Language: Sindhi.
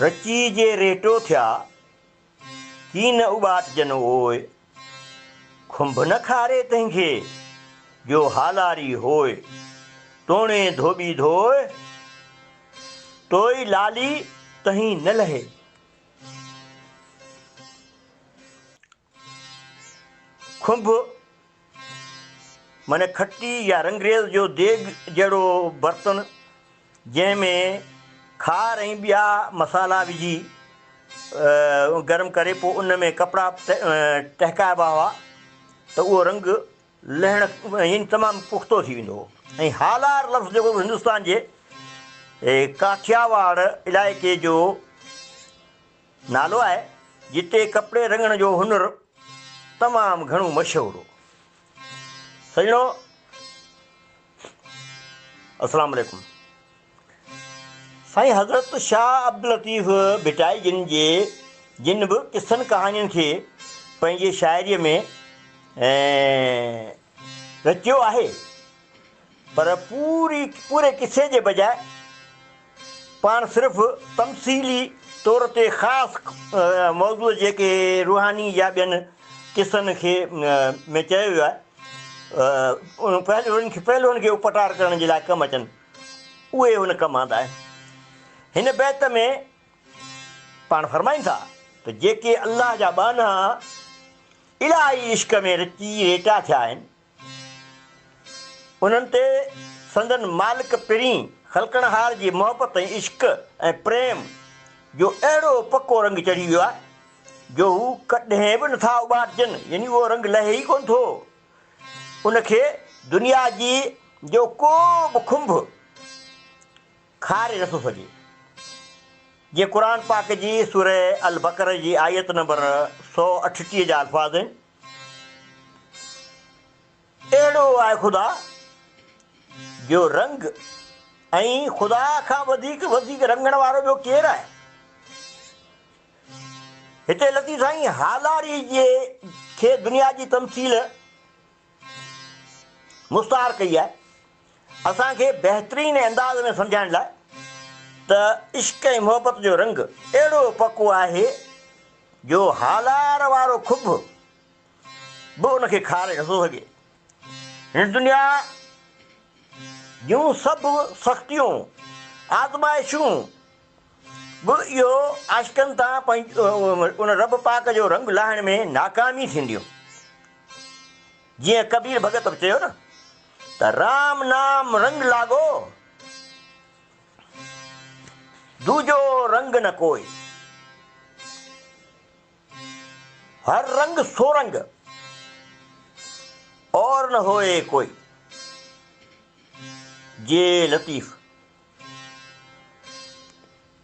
رچي جي ريٽو ٿيا ڪي نه اٻاٽجن اوء کنڀ نه کاري تنهن کي جو هالاري هوء توڻي ڌوٻي ڌوء توئي لالي تنهين نه لهي. کنڀ معني کٽي يا رنگريز جو ديڳ جهڙو برتن جنهن ۾ کار ۽ ٻيا مصالحا وجهي گرم ڪري پوء ان ۾ ڪپڙا ٽهڪائبا هئا ته اهو رنگ لهڻ يعني تمام پختو ٿي ويندو هو ۽ هالار لفظ جيڪو هندستان جي ڪاٺياواڙ علائقي جو نالو آهي جتي ڪپڙي رڱڻ جو هنر تمام گهڻو مشهور هو سڄڻو السلام عليڪم سائين حضرت شاهه عبداللطيف ڀٽائي جن جي جن به قصن ڪهاڻين کي پنهنجي شاعري ۾ رچيو آهي پر پوري پوري قصي جي بجاء پاڻ صرف تمثيلي طور تي خاص موضوع جيڪي روحاني يا ٻين قصن کي ۾ چيو ويو آهي ان پهلوئن کي پهلوئن کي اپٽار ڪرڻ جي لاء ڪم اچن اهي هن ڪم آندا آهن هن بيت ۾ پاڻ فرمائن ٿا ته جيڪي الله جا ٻانها الاهي عشق ۾ رچي ريٽا ٿيا آهن، انهن تي سندن مالڪ پرين خلقڻهار جي محبت ۽ عشق ۽ پريم جو اهڙو پڪو رنگ چڙهي ويو آهي جو هو ڪڏهن به نٿا اٻارجن يعني اهو رنگ لهي ئي ڪونه ٿو. ان کي دنيا جي جو ڪو به کنڀ خاري رسو سڄي جي قرآن پاڪ جي سورة البقرة جي آيت نمبر سؤ اٺٽيهه جا الفاظ آهن اهڙو آهي خدا جو رنگ ۽ خدا کان وڌيڪ وڌيڪ رنگڻ وارو ٻيو ڪير آهي هتي لطيف سائين هالاري جي کي دنيا جي تمثيل مستعار ڪئي آهي اسان کي بهترين انداز ۾ سمجهائڻ لاء ته عشق ۽ محبت جو رنگ اهڙو پڪو آهي جو هالار وارو کڀ به ان کي کاري نٿو سگهي. هن دنيا جون سڀ سختيون، آزمائشون به اهو عاشقن تان پنهنجو ان رب پاڪ جو رنگ لاهڻ ۾ ناڪامي ٿينديون. جيئن ڪبير ڀڳت به چيو نه ته رام نام رنگ لاڳو دوجو رنگ نه ڪوئي هر رنگ سو رنگ اور نه هوئي ڪوئي جي لطيف